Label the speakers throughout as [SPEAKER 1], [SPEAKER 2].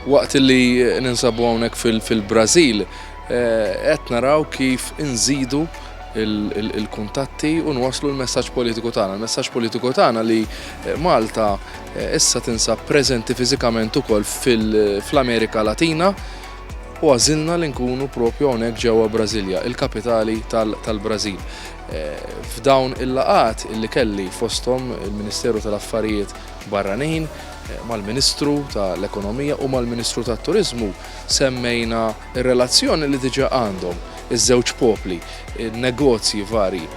[SPEAKER 1] Waqt li ninsabu hawnhekk fil-Brażil, eh, qed naraw kif inżidu il-kuntatti u nwaslu l-messaġġ politiku tagħna. Il-messaġġ politiku tagħna li eh, Malta eh, issa tinsab preżenti fiżikament ukoll fl-Amerika Latina u għażilna li nkunu proprju hawnhekk ġewwa Brasilia, il-kapitali tal-Brażil. F'dawn il-laqgħat li kelli fosthom il-Ministeru tal-Affarijiet Barranin, mal-Ministru tal-Ekonomija u mal-Ministru tat-Turiżmu semmejna r-relazzjoni li diġà għandhom iż-żewġ popli, in-negozji varji,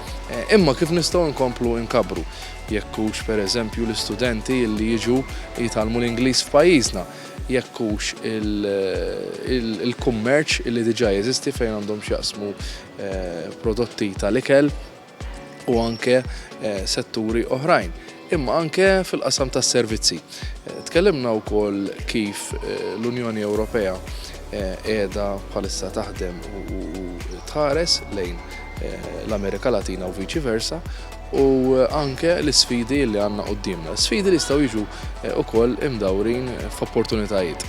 [SPEAKER 1] imma kif nistgħu nkomplu nkabbru, jekk hux pereżempju l-istudenti li jiġu jitgħallmu l-Ingliż f'pajjiżna. jekk hux il-kummerċ li diġà jeżisti fejn għandhom x'jaqsmu prodotti tal-ikel u anke setturi oħrajn, imma anke fil-qasam tas-servizzi. Tkellimna wkoll kif l-Unjoni Ewropea qiegħda bħalissa taħdem u tħares lejn l-Amerika Latina u viċi versa, u anke l-isfidi li għandna quddiemna, sfidi li jistgħu jiġu wkoll imdawrin f'opportunitajiet.